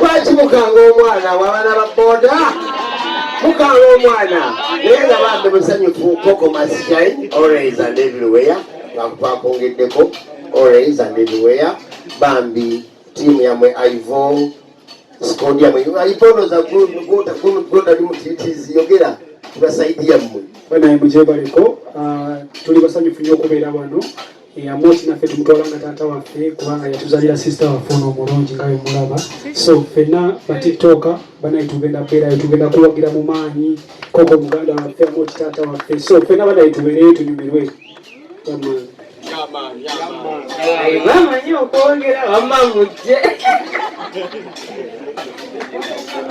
lwaki mukanga omwana wabana ba boda mukanga omwana naye nga bambi musanyufu koko masshine always and everywhere ngakupakongeddeko always and everywhere bambi tiimu yamwe ivo sikondi yamwe iponoza gotali mutitizi yogera tubasaidi yammwe banaye mujebaliko ah, tuli basanyufu nyo okubeera wano eyamusi eh, naffe tumutwala nga taata waffe kubanga yatuzalira sister waffe ono omulungi nga bemulaba so fenna batiktoka banaye tugenda beerayo tugenda kuwagira mu maanyi koko muganda waffe amoti taata waffe so fenna banaye tubeereyo tunyumirwe bamanyi okwongera wamma mujje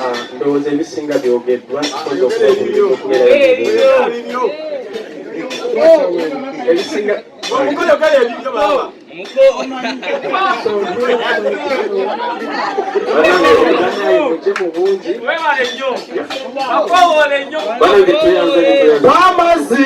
Ah, ndowooza ebisinga byogeddwa ebisinga bamazzi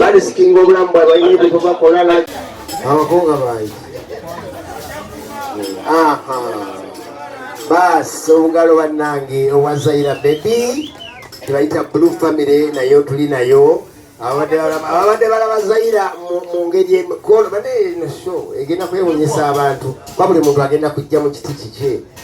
balisikinga obulamu bwabwe balina ebyo bwebakola abakunga bayi baasi obugalo bannange owa zaira bebi tebayita blue family naye otuli nayo ababadde balaba zaira mu ngeri emikolo bane eno sho egenda kwewunyisa abantu babuli muntu agenda kujja mu kiti kikye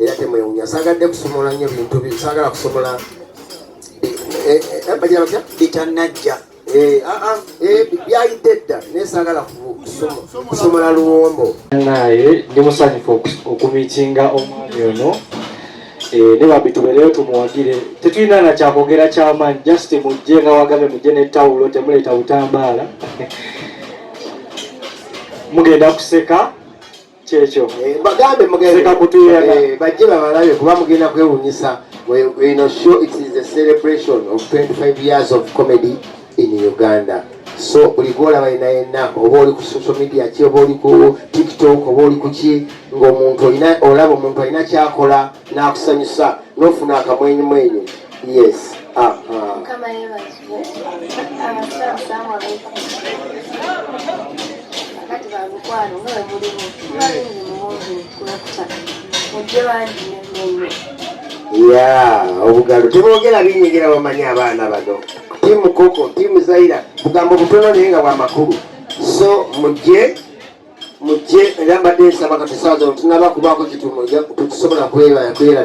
era temwewunya sagadde kusomola nnyo bintu sagala kusomola eh, eh, eh, bagira batya bitanajja ah, ah, byayidde dda naye sagala kusomola luwombo naye ndi musanyufu okumitinga omwami ono ne bambi tubeereyo tumuwagire tetulina na kyakwogera kyamaanyi just mujje nga wagambe mujje ne tawulo temuleeta butambaala mugenda kuseka kyekyo eh, bagambe mugeekakutuyana eh, bajje babalabe kuba mugenda kwewunyisa ino show it is a celebration of 25 years of comedy in uganda so buli gwolaba yena yenna oba oli ku social media ki oba oli ku tiktok oba oli kuki ngaomuntu olaba omuntu alina kyakola n'akusanyusa n'ofuna akamwenyumwenyu yes mukama yebazibwe abasiramu salaamu aleikum kakati bamukwano nga we mulimu kuba bingi muwungi kulekuta mujje bangi nemenyo ya obugalo tebogera binyigira bamanyi abaana bano timu koko timu zaira bugambo butono naye nga bwamakulu so mujje mujje era mbadde nsaba kati saaza otunaba kubaako kitumu tusobola kwelabira